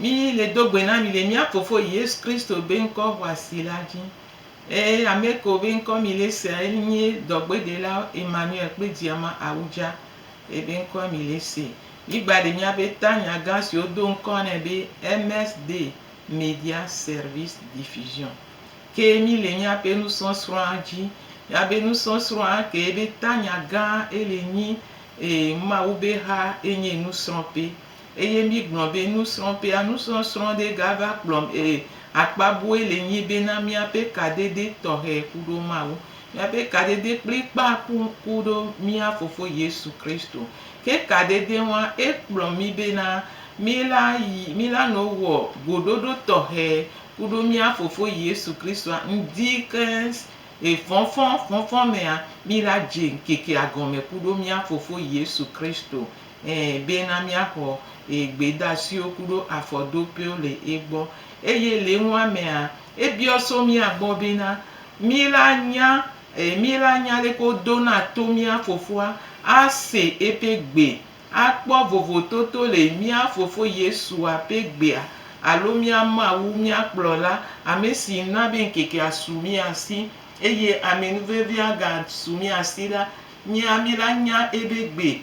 Mí le do gbe na mi le mía Fofo Yesu Kristo be ŋkɔ xɔasi la dzi. Ee, ame kewo be ŋkɔ mi le sea ye nye Dɔgbeɖelawo Emmanuel kple Diama Awudja. Ye be ŋkɔ mi le se. Mí gba ɖe míabe tanya gã si wo do ŋkɔ nɛ be MSD, Media Service Diffusion, ke mí le míaƒe nusɔsrɔ̃a dzi. Míabe nusɔsrɔ̃a ke be tanya gã ele nyi, ee, Mawu be xa enye nusrɔ̃ƒe. Eye mi gblɔ be nusrɔ̃ƒea nusrɔ̃srɔ̃ ɖe gava kplɔm e, akpa bue le nyi be na miaƒe kadede tɔxɛ ku ɖo Mawu. Miaƒe kadede kplikpaa ku ku ɖo mia Fofo Yesu Kristo. Ke kadede ŋua e kplɔ mi be na mi la yi mi la no wɔ goɖoɖo tɔxɛ ku ɖo mia Fofo Yesu Kristoa ŋdi keŋ e fɔfɔ fɔfɔ mea mi la dze ŋkekea gɔme ku ɖo mia Fofo Yesu Kristo Ẽ, bena míaxɔ ye gbedasiwo kuɖo afɔdopewo le egbɔ. Eye le enua mea, ebiɔ so mía gbɔ bena, Mí la nya, ẽ, mí la nya leke wodona to mía Fofoa, ase eƒe gbe, akpɔ vovototo le mía Fofo Yesua ƒe gbea, alo mía Mawu, mía Kplɔla, amesi na be ŋkekea su mía si, eye amenuvevea gasu mía si la, mía, mí la nya ebe gbe,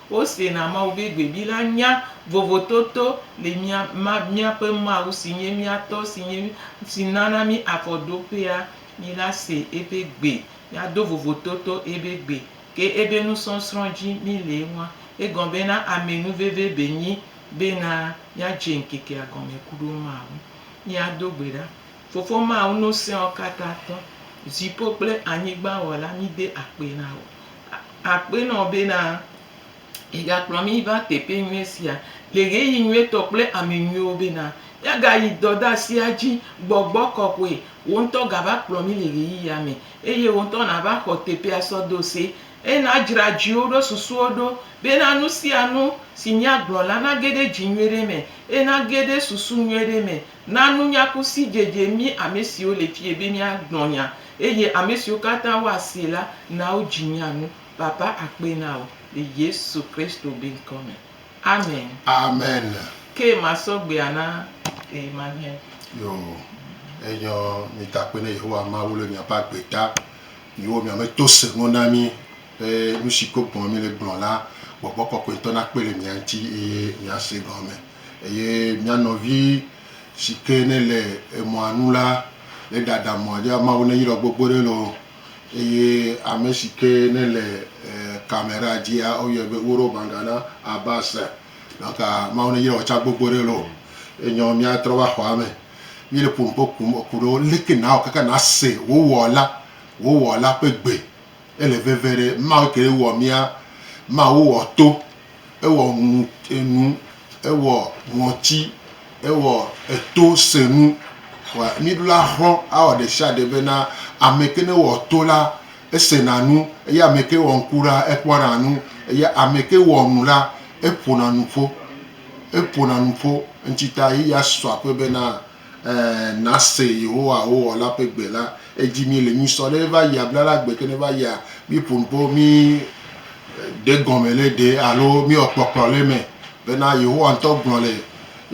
Wosena Mawu be gbebi la nya vovototo le mía, ma, míaƒe Mawu si nye mía tɔ, si nye, si nana mí afɔɖoƒea, mí la se eƒe gbe, míado vovototo ebe gbe, ke ebe nusɔsrɔ̃ dzi mí le eŋua. Egɔme bena ame nu veve be nyi bena míadze ŋkekea gɔme kuɖo Mawu. Míado gbe ɖa. Fofo ma ŋu nu sẽwo katã tɔ, dziƒo kple anyigba Wɔla, míde akpe na wò. Akpe na wò bena ègakplɔ mí va teƒe nyui sia le ɣeyiɣi nyuitɔ kple ame nyuiwo bena míagayi dɔdasia dzi. Gbɔgbɔ kɔkɔe, wò ŋutɔ gava kplɔ mí le ɣeyiɣia me eye wò ŋutɔ nàva xɔ teƒea sɔ do se. Eye nàdzra dziwo ɖo, susuwo ɖo bena nu sia nu si míagblɔ la nage ɖe dzi nyui ɖe me eye nage ɖe susu nyui ɖe me Na nunya ku sidzedze mí ame siwo le fiẽ be míagblɔ nya, eye ame siwo katã woasee la, na wodzi mía ŋu. Papa akpe na wò le Yesu Kristo be ŋkɔ me. Amen. Amen. Ke masɔ gbea na Emmanuel. Yo, enyɔ mi da akpe ne Yehowa Mawu le miaƒe agbe ta. Miwo miame to se ŋɔ na mi be nusi gbɔgbɔ me mi le gblɔ la, gbɔgbɔ kɔkɔetɔ nakpe le mia ŋti eye miase gɔme. Eye mía nɔvi si ke nele emɔa nu la neɖaɖa mɔa ɖi. Mawu neyra gbogbo ɖe enu. Eye ame si ke nele camera dzia woyɔe be Uro Bangana Abbas. Donc Mawu neyra wò tsã gbogbo ɖe enu. Enyo mía trɔ va xɔa me. Mí le ƒonuƒo kum eku ɖewo leke nawɔ kaka nase wò Wɔla, wò Wɔla ƒe gbe. Ele veve ɖe, Mawu kee wɔ mía, Mawu wɔ to, ewɔ ŋu, enu, ewɔ ŋɔti, ewɔ eto se nu. Wa, mí ɖo la xlɔ̃ awɔ ɖe sia ɖe bena ame ke ne wɔ to la, esena nu, eye ame ke wɔ ŋku la, ekpɔna nu, eye ame ke wɔ nu la, eƒona nuƒo, eƒona nuƒo. Eŋuti ta ye ya sɔ akpe bena. Ɛ̃, nase Yehowa wò Wɔla ƒe gbe la. Edzi mí le nyui sɔ ɖe va yia bla la gbe ke ne va yia. Míƒo nu kpɔ, mí ɖe gɔme le ɖe alo mí wɔ kpɔkplɔ le eme. Bena Yehowa ŋutɔ gblɔ le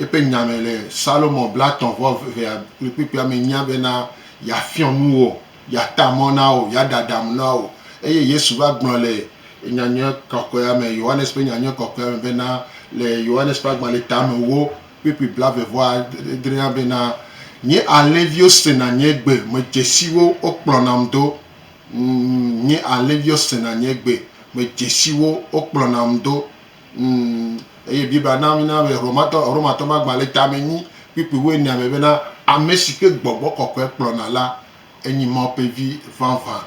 eƒe nya me le Salomɔ blatɔ̃ vɔ evea kplikplikpuia me nyia bena ya fiɔ nu wò, ya ta mɔ na wò, ya ɖaɖa amo na wò. Eye Yesu va gblɔ le Nyanyuie kɔkɔea me, Yohanes ƒe Nyanyuie kɔkɔea me bena le Yohanes ƒe agbalẽ tame wo. kpekpe blaeve-vɔ-adrea bena, Nye alẽviwo sena nye gbe, medze si wo, wokplɔnam do. Ŋ, Nye alẽviwo sena nye gbe, medze si wo, wokplɔnam do. Ŋ, Eye Biblia na mína be Romatɔ, Romatɔmagbalẽ tame nyi kpukpui wuienea me bena, Ame si ke gbɔgbɔ kɔkɔe kplɔna la. Enyi Mawu ƒe Vi vavã.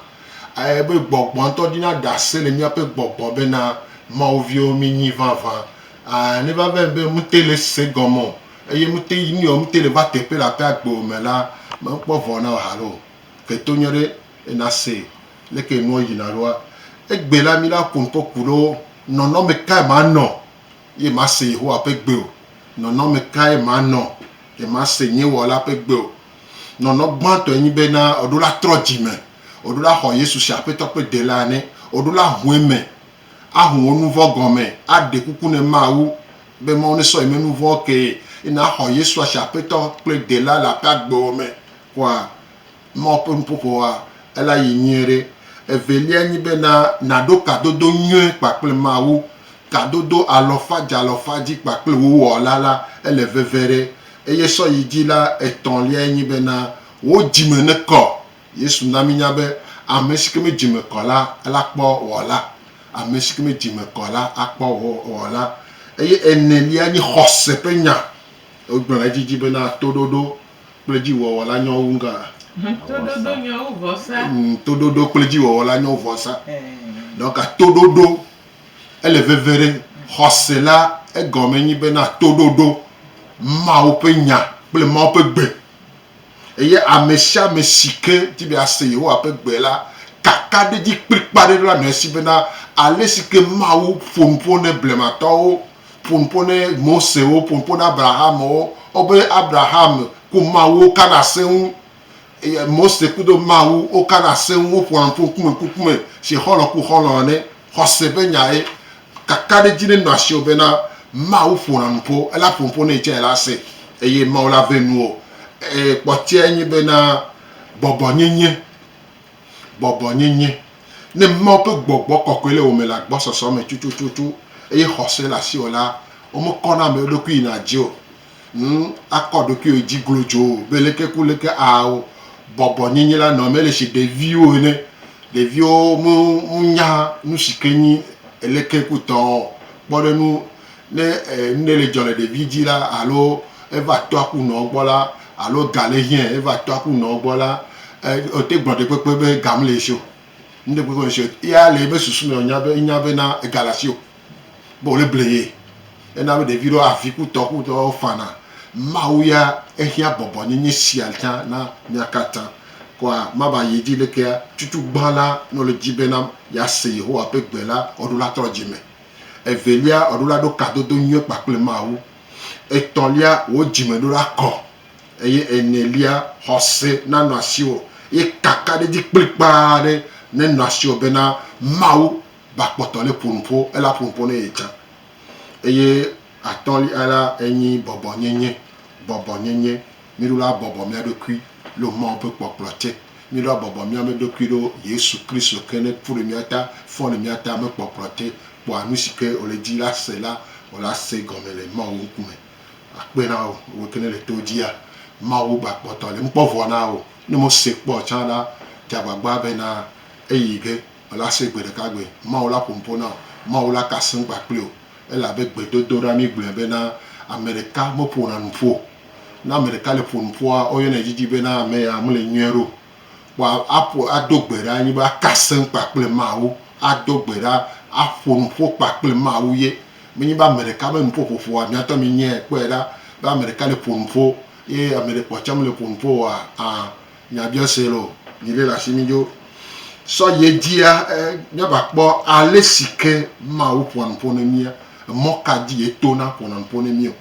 Eye be gbɔgbɔa ŋutɔ ɖi na ɖase le míaƒe gbɔgbɔ be na Mawu viwo mi nyi vavã. Ãa, ne va vem be mete le se gɔme o eye mete yi nui o, mete le va teƒe le aƒe agbewo me la, mekpɔ vɔ̃ na wò halo o. Ke to nyɔ ɖe ena se leke enuɔ yina ɖoa. Egbe la, mi la ƒo ŋkɔ ku ɖo nɔnɔme kae manɔ Nyemase Yehowa ƒe gbe o. Nɔnɔme kae manɔ? Nyemase nye Wɔla ƒe gbe o. Nɔnɔ gbãtɔe nye be na wòɖo la trɔ dzi me, wòɖo la xɔ Yesu se Aƒetɔ kple Delaa ne wòɖo la hu eme, ahu wò nu vɔ̃ gɔme, aɖe kuku ne Mawu be Mawu nesɔ ye menu vɔ̃wo kee, eye naxɔ Yesua se Aƒetɔ kple Delaa le aƒea gbewò me kpɔa. Mawu ƒe nuƒoƒoa, ela yi nyuie ɖe. Evelia nyi be na nàɖo kadodo nyuie kpakple Mawu. Kadodo alɔfadzalɔfadzi kpakple wò Wɔla la, ele veve ɖe. Eye sɔ yi dzi la, etɔ̃liae nyi be na wò dzi me nekɔ. Yesu na mínya be, Ame si ke me dzi me kɔ la, ela kpɔ Wɔla. Ame si ke me dzi me kɔ la, akpɔ Wɔla. Eye enelia nye xɔse ƒe nya. Wogblɔ ɖe edzi dzi be na toɖoɖo. kple dziwɔwɔ la nyɔ wu ŋgɔa? Toɖoɖo nyɔ wu vɔsa. Toɖoɖo kple dziwɔwɔ la nyɔ wu vɔsa. Donc toɖoɖo ele veve ɖe xɔse la egɔme nyi be na toɖoɖo Mawu ƒe nya kple Mawu ƒe gbe. Eye amesiame si ke di be yease Yehowa ƒe gbe la kaka ɖe edzi kplikpaa ɖe ɖo la nɔ esi bena alesi ke Mawu ƒo nu ƒo ne blematɔwo ƒo nu ƒo ne Mosewo, ƒo nu ƒo ne Abrahamwo, wobe Abraham ku Mawuwo kana ase ŋu, eye Mose kudo Mawu wokana ase ŋu, woƒona nu ƒo ŋkume ku ŋkume si xɔlɔ̃ ku xɔlɔ̃ ene. Xɔse ƒe nyae, kakaɖedzi ɖe nɔa asiwò bena Mawu ƒona nu ƒo, ela ƒo nu ƒo ne yi tsɛ ela ase eye Mawu la ve nuwò. Kpɔtɔea nye bena gbɔgbɔnyenye. Bɔbɔnyenye, Ne Mawu ƒe gbɔgbɔ kɔkɔe le wò me le agbɔsɔsɔ me tutututu eye xɔse le asiwò la, womekɔna ame ɖokui yina dzi o. Ŋ, akɔ ɖokuiwò dzi glodzoo be leke ku leke ao, bɔbɔnyenye la nɔ eme ele si ɖeviwo ene. Ɖeviwo me, menya nusi ke nyi leke ku tɔo. Kpɔ ɖe ŋu, Ne nuɖe le dzɔ le ɖevi dzi la alo eva tɔa ku nɔa gbɔ la alo ga le hiã eva tɔa ku nɔa gbɔ la, wote gblɔ ɖe kpekpe be ga mele esi o. Nuɖe kpekpe mele esi o. Eya le eƒe susu me wonya be enya be na ega le asiwò be wole ble ye. Ena be ɖevi ɖewo avi ku tɔ ku tɔ wo fana. Mawu ya ehiã bɔbɔ nyenye sia tsã na mia katã. Kɔa mava yi edzi lekea, tutugbã la ne wole edzi be na yease Yehowa ƒe gbe la, woɖo la trɔ dzi me. Evelia, èɖola ɖo kadodo nyuie kpakple Mawu. Etɔ̃lia, wò dzimeɖola kɔ. Eye enelia, xɔse nanɔ asiwò, eye kakaɖedzi kplikpaa aɖe nenɔ asiwò bena Mawu ba kpɔtɔ le ƒo nuƒo, ela ƒo nuƒo ne yetsã. Eye atɔ̃lia la enyi bɔbɔnyenye, bɔbɔnyenye. Míɖo la bɔbɔ mía ɖokui lo Mawu ƒe kpɔkplɔ te. Míɖo la bɔbɔ mía me ɖokui lo Yesu Kristo ke ne ƒu ɖe mía ta, fɔ le mía ta me kpɔkplɔ te, kpɔa nu si ke wòle di la se la, wò la se gɔme le Mawu ŋkume. Akpe na wò, wò ke ne le to dia Mawu gbakpɔtɔ le ŋkpɔ vɔ na wò. Ne mo se kpɔ o tsã la, dze agbagba be na eyi ge wò la se gbe ɖeka gbe. Mawu la ƒo nu ƒo na wò. Mawu la ka seŋ kpakple wò. Elabe gbedodoɖa mi gblɔe be na ame ɖeka meƒona nu ƒo o. Ne ame ɖeka le ƒo nu ƒua, woyɔnɛ didi bena ame ya mele nyuie ɖe o. Kpɔa aƒo ado gbe ɖa nyi be aka asem kpakple Mawu, ado gbe ɖa, aƒo nu ƒo kpakple Mawu ye. Menye be ame ɖeka be nuƒoƒoƒoa miatɔ minyae kpɔe ɖa be ame ɖeka le ƒo nu ƒo ye ame ɖe kpɔ tsɛ mele ƒo nu ƒo oa, ã, nya biɔ se loo. Mi ɖe le asi mi dzo. Sɔ yi edzia, e, míava kpɔ ale si ke Mawu ƒoa nu ƒo ne mía. Emɔ ka dzi ye tona ƒona nu ƒo ne mí o.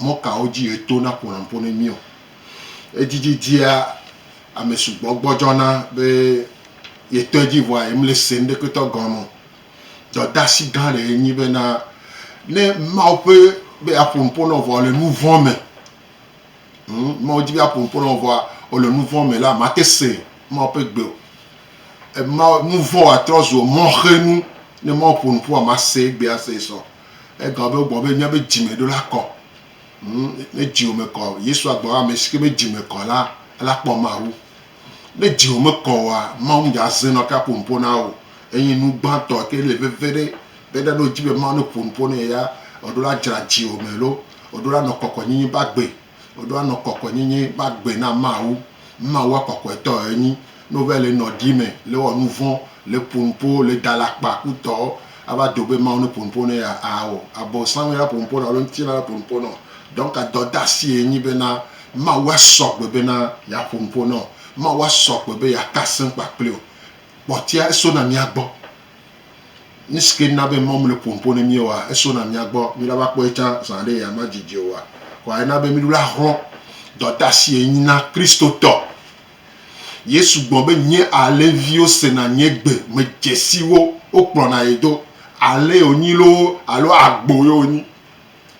Mɔ kawo dzi etona ƒonaƒo ne míɔ? Edzidzi dzia ame sugbɔ gbɔdzɔna be yetɔe dzi vɔa yemle se ŋɖeketɔ gɔme o. Dɔdasi gã ɖe enyi bena ne Mawu ƒe be aƒo nuƒo na wò vɔa wòle nu vɔ̃ me. Hm, Mawu di be aƒo nuƒo na wò vɔa wòle nu vɔ̃ me la, màte se Mawu ƒe gbe o. Ema nu vɔ̃ atrɔ zu mɔxenu ne Mawu ƒo nuƒoa mase egbea se sɔ. Egawɔ be wogblɔ be míabe dzime ɖo la kɔ. Ŋu, ne dziwò me kɔ, Yesu agblɔ be ame si ke be dzime kɔ la, ela kpɔ Mawu. Ne dziwò mekɔ oa, Mawu ŋdza ze nɔ ka ƒo nuƒo na wò. Enye nu gbãtɔ ke le veve ɖe be ɖa ɖo dzi be Mawu ne ƒo nuƒo ne ya, eɖo la dzra dziwò me lo, eɖo la nɔ kɔkɔenyinyi be agbe. Woɖo anɔ kɔkɔenyenye be agbe na Mawu. Mawua kɔkɔetɔ enyi. Ne wova le nɔ ɖi me, le wɔ nuvɔ̃, le ƒo nu ƒo, le da le akpa ku tɔ, ava do be Mawu ne ƒo nu ƒo ne ya ao. Abosam ye aƒo nu ƒo nɔ alo ŋutilã ye aƒo nu ƒo nɔ. Donc dɔdeasi ye nyi bena Mawua sɔ gbe bena yeaƒo nu ƒo nɔ. Mawua sɔ gbe be yeaka seŋ kpakpli wò. Kpɔtɔea eso na mía gbɔ. Nusike na be mɔm le ƒompo ne miwoa eso na mia gbɔ mi la va kpɔe tsã zã ɖe ya ma dzidzi oa? Kɔa ena be mi ɖo la hlɔ dɔta si enyi na Kristo tɔ. Yesu gbɔ be nye alẽ viwo se na nye gbe me dzesi wo wo kplɔ na ye do. Alẽ yo nyi loo alo agbo yo nyi.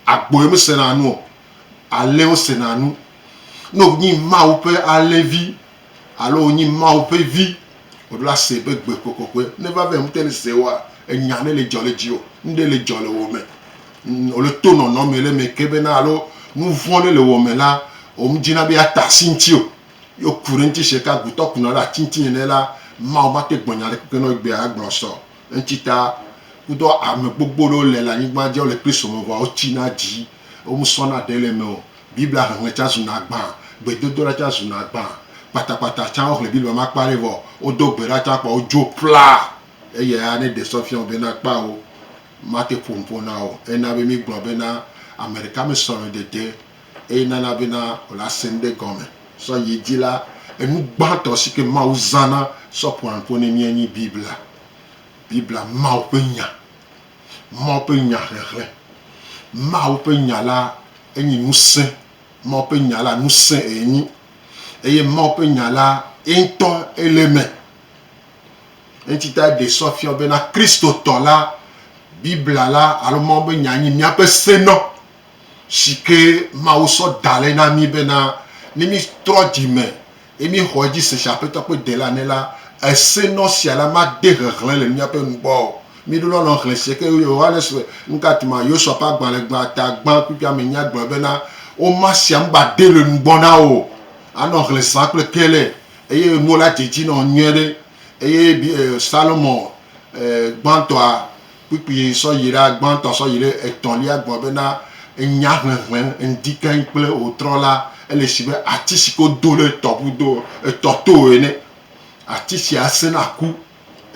Agbo yo me se na nu o. Alẽwo se na nu. Ne wo nyi Mawu ƒe alẽ vi. Alo wònyi Mawu ƒe Vi. Wòɖo ase be gbe kpɔkpɔkpɔe. Ne va vɛ ŋutɔ le se woa, ènya ne le dzɔ le dziwò. Nuɖe le dzɔ le wò me. Wòle to nɔnɔme le me ke bena alo nu vɔ̃ ɖe le wò me la, womedzina be yeata asi ŋutiwò. Ye wòku ɖe ŋuti sheka gutɔ kuna ɖe ati ŋuti nene la, Mawu mate gblɔ nya ɖekpekpe na wò egbea agblɔ sɔ. Eŋuti ta, kudɔ ame gbogbo ɖewo le le anyigba dzi, wole Kristo me vɔa wotsina dzi. Womesɔna ɖe le eme o. Biblia xexlẽ tsã zuna agbã, gbedodoɖa tsã zuna agbã. Kpatakpata tsã woxlẽ Biblia me akpa ɖe vɔ wodo gbe ɖa tsã kpɔ wodzo ƒlaa. Eya ne ɖe sɔ fia wò bena kpɔ wo mate ƒo nu ƒo na wò o. Ena be mígblɔ bena ame ɖeka me sɔlemedede eye nana bena wòle ase nu ɖe gɔme sɔ yi edzi la, enu gbãtɔ si ke Mawu zãna sɔ ƒoa nu ƒo ne mía enye Biblia. Biblia, Mawu ƒe Nya. Mawu ƒe Nya xexlẽ. Mawu ƒe Nya la enyi ŋusẽ. Mawu ƒe Nya la ŋusẽ ye nyi eye Mawu ƒe Nya la ye ŋutɔ ele eme. Eŋuti tae ɖe sɔ fiɔ bena Kristotɔ la, Biblia la alo Mawu be Nya nyi míaƒe senɔ si ke Mawu sɔ da le na mí bena ne mítrɔ dzime Eye míexɔ edzi se si Aƒetɔ ƒe dela ne la, ese nɔ sia la made hehlẽ le míaƒe nu gbɔ o. Míɖo lɔlɔ̃ xlẽ se ke Yohanes ƒe Nukatima Yosua ƒe agbalẽ gbã ta gbã kpukpuia me nya gblɔ bena, Woma sia nu ba de le nu gbɔ na wò. Anɔ hlẽ zã kple kele, eye nuwo la dze edzi nɔ nyuie ɖe. Eye Salomo gbãtɔa kpukpui sɔ yi ɖe agbãtɔ sɔ yi ɖe etɔ̃lia gbɔ bena enya hlɛ̃hlɛ̃ ŋdi keŋ kple wòtrɔ la, ele esi be ati si ke wodo ɖe etɔ ƒudo, etɔ to ene. Ati sia sẽna ku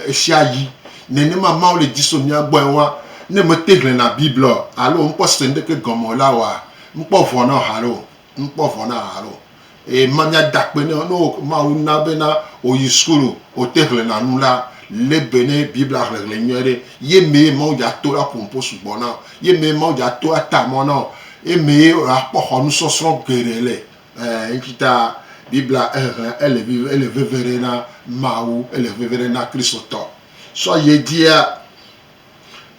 ɣesiaɣi. Nenema Mawu le dzi so mía gbɔ enua, ne mete hlɛ̃na Biblia o alo mekpɔ se ŋɖeke gɔme o la wɔa, mekpɔ vɔ̃ na wo haɖe o. ŋkpɔ vɔ na haɖe o. Eye ma míada akpe nɛ o. Ne wo Mawu na bena wòyi sukulu ŋu wòte hlẽna nu la, lé be ne Biblia hlẽhlẽ nyuie ɖe. Ye mee Mawu dza to la ƒonuƒo sugbɔ na wò. Ye mee Mawu dza to la ta mɔ na wò. Ye mee wòakpɔ xɔ nusɔsrɔ̃ geɖe le. Ẽ, eŋuti ta Biblia hehlẽ ele viv, ele veve ɖe na Mawu, ele veve ɖe na Kristotɔ. Sɔ yi edzia,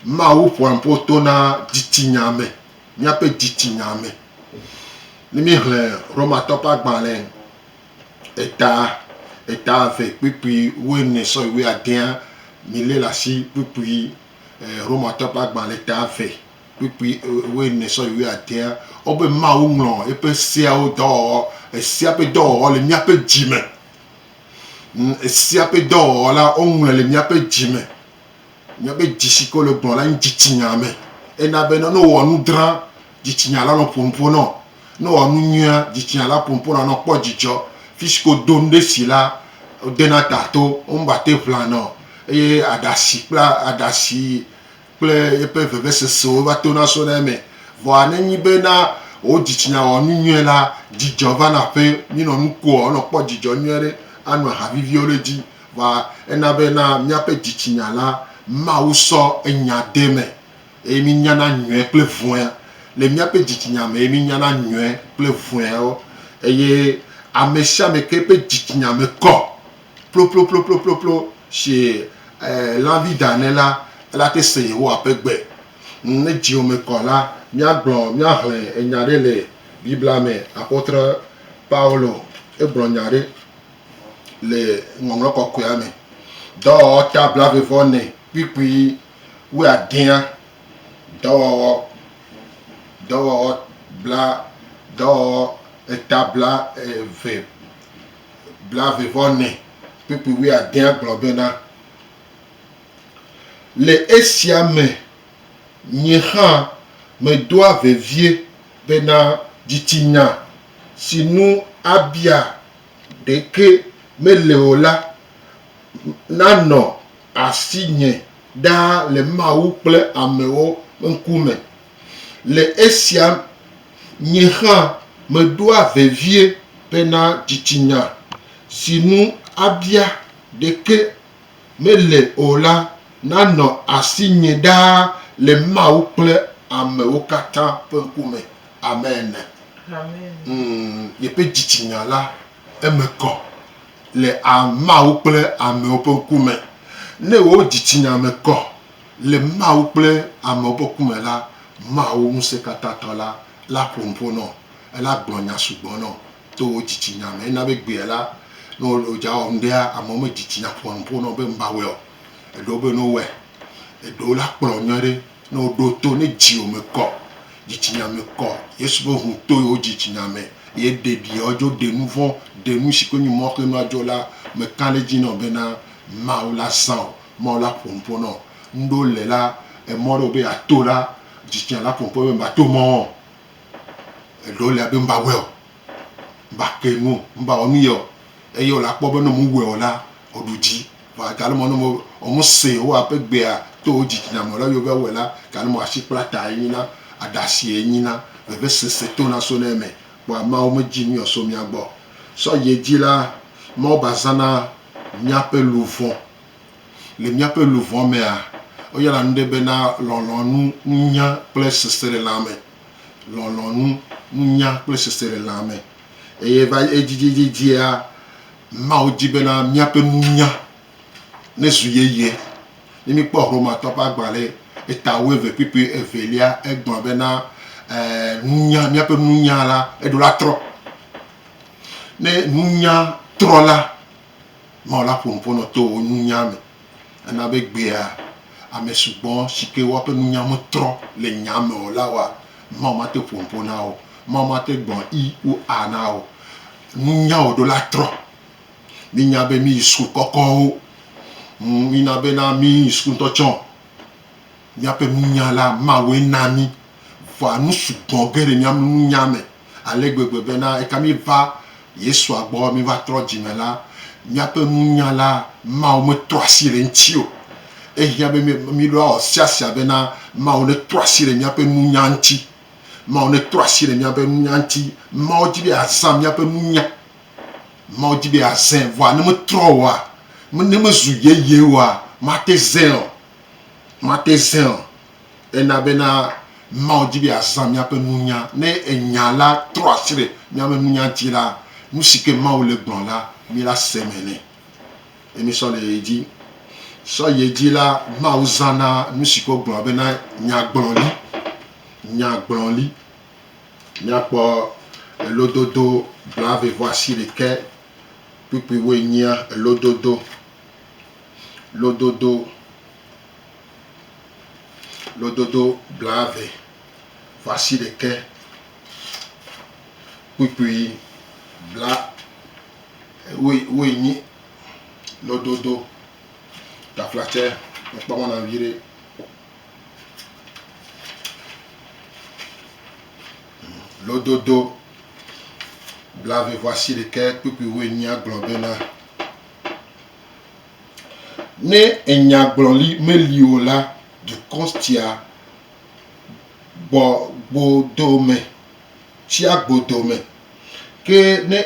Mawu ƒoa nuƒo tona dzitsinya me. míaƒe dzitsinya me. Ne míehlẽ Romatɔwo ƒe agbalẽ eta, eta eve kpukpui wuiene sɔyi wuiadea, mílé le asi kpukpui Romatɔwo ƒe agbalẽ eta eve kpukpui wuiene sɔyi wuiadea, wobe Mawu ŋlɔ eƒe seawo dɔwɔwɔ, esea ƒe dɔwɔwɔ le míaƒe dzime. Esea ƒe dɔwɔwɔ la, woŋlɔe le míaƒe dzime. Nya be dzi si ke wole gblɔ la nyi dzitsinya me. Ena be ne wowɔ nu dra, dzitsinya la nɔ ƒonuƒo nɔ wo. Ne wowɔ nu nyuia, dzitsinya la ƒonuƒo nɔ wo ne wokpɔ dzidzɔ. Fi si ke wodo nu ɖe si la, wodena ta to, womagate ŋu ʋlana o eye aɖasi kple aɖasi kple yeƒe vevesesewo va tona sona eme. Vɔa ne enye be na wò dzitsinya wɔ nu nyuie la, dzidzɔ vana ƒe. Minɔ nu kua, wonɔ kpɔ dzidzɔ nyuie ɖe, ano aha viviwo ɖe edzi. Vɔa ena be na míaƒe dzitsinya la, Mawu sɔ enya de eme, eye mínyana nyuie kple vɔ̃e. Le míaƒe dzitsinya me ye mínyana nyuie kple vɔ̃ewo. Eye amesiame ke ƒe dzitsinya me kɔ ploploploploplo si lãvi da ene la, elate se Yehowa ƒe gbe. Ne dziwò me kɔ la, míagblɔ, míaxlẽ enya ɖe le Biblia me. Apɔtre Paulo, egblɔ nya ɖe. le Ŋɔŋlɔ Kɔkɔea me. Dɔwɔwɔ ta blaeve-vɔ-ne kpukpui wuiadea, dɔwɔwɔ, dɔwɔwɔ bla, dɔwɔwɔ eta bla eve, blaeve-vɔ-ne kpukpui wuiadea gblɔ bena, Le esia me nye hã medoa vevie bena dzitsinya si nu abia ɖeke mele o la, nanɔ asinye ɖaa le Mawu kple amewo ŋkume. Le esia nye hã meɖoa vevie bena dzitsinya si nu abia ɖeke mele o la nanɔ asinye ɖaa le Mawu kple amewo katã ƒe ŋkume. Amen. Yeƒe dzitsinya la, eme kɔ le Mawu kple amewo ƒe ŋkume. Ne wò dzitsinya me kɔ le Mawu kple amewo ƒe ŋkume la, Mawu Ŋusẽkatãtɔ la, la ƒo nuƒo nɔ, ela gblɔ nya sugbɔ nɔ. To wò dzitsinya me. Ena be egbea la, ne wodza wɔ nuɖea, amewo me dzitsinya ƒonaƒo na wo be ŋva wɔe o. Eɖewo be ne wowɔe. Eɖewo la kplɔ nyuie ɖe. Ne woɖo to, ne dziwò me kɔ, dzitsinya me kɔ, Yesu ƒe ŋu to yewo dzitsinya me ye ɖe ɖi yewo dzo ɖe nuvɔ̃, ɖe nu si ke nyi mɔxe nua dzo la me ka ɖe edzi na wò bena Mawu la zã wò, Mawu la ƒonuƒo na wò. Nuɖewo le la, emɔ ɖewo be yeato la, dzitsinya la ƒonuƒo be ŋva to mɔ o. Eɖewo le abe ŋba wɛɔ, ŋba ke nuo, ŋba wɔ nu yɛɔ, eye wòle akpɔ be ne ŋmu wɛɔ la, wòɖu dzi. Vɔa gale mɔ ne ŋmu se Yehowa ƒe gbea to wò dzitsinya me lɔ ye wova wɔe la, gale mɔ asikplatae enyi na, aɖasie enyi na, vevesese tona sona eme. Kpɔa Mawu medzi nu yɔ so mía gbɔ o. Sɔ yi edzi la, Mawu ba zãna míaƒe luʋɔ Le míaƒe luʋɔ mea, woyɔna nu ɖe bena lɔlɔ̃nu, nunya kple seselelãme. Lɔlɔ̃nu, nunya kple seselelãme. Eye va edzidzidzidzia, Mawu di bena míaƒe nunya nezu yeye. Ne míkpɔ Romatɔwo ƒe agbalẽ eta wuieve kpukpui evelia, egblɔ bena, nunya, míaƒe nunya la, eɖo la trɔ. Ne nunya trɔ la, Mawu la ƒo nu ƒo nɔ to wò nunya me. Ena be gbea ame sugbɔ si ke woaƒe nunya metrɔ le nyaa me o la wa Mawu mate ƒo nu ƒo na wo. Mawu mate gbɔ i wo a na wo nunya o ɖo la trɔ. Mínya be míyi sukulu kɔkɔwo. Ŋ, mína be na míyi sukulu ŋutɔ tsɔ. Míaƒe nunya la, Mawue na mí. Vɔa nu sugbɔ ge le mía nunya me ale gbegbe bena eka míeva Yesua gbɔ, míeva trɔ dzi me la, míaƒe nunya la, Mawu metrɔ asi le eŋuti o. Ehiã be míɖo awɔ sia sia bena Mawu netrɔ asi le míaƒe nunya ŋuti. Mawu netrɔ asi le míaƒe nunya ŋuti. Mawu di be yeazã míaƒe nunya. Mawu di be yeazãe. Vɔa ne metrɔ oa, ne mezu yeye oa, mate zãe o. Mate Zion, ena bena Mawu di be yeazã míaƒe nunya. Ne Enya la trɔ asi ɖe míaƒe nunya dzi la, nusike Mawu le gblɔm la, míla se me nɛ, ye mísɔ le ye dzi. Sɔ ye dzi la, Mawu zãna nusike wogblɔna bena nyagblɔli, nyagblɔli. Míakpɔ elododo blaeve-vɔ-asiɖekɛ kpukpuiwoe nyia elododo. lododo lododo blaeve va shi ɖekɛ, kpukpui bla woe woe nyi lododo taflatse mekpɔ mɔ na viɖe. Lododo blaeve va shi ɖekɛ kpukpui woe nyi agblɔ bena. Ne enyagblɔli meli o la, dukɔ tia gbɔgbodome, tsia gbodome, ke ne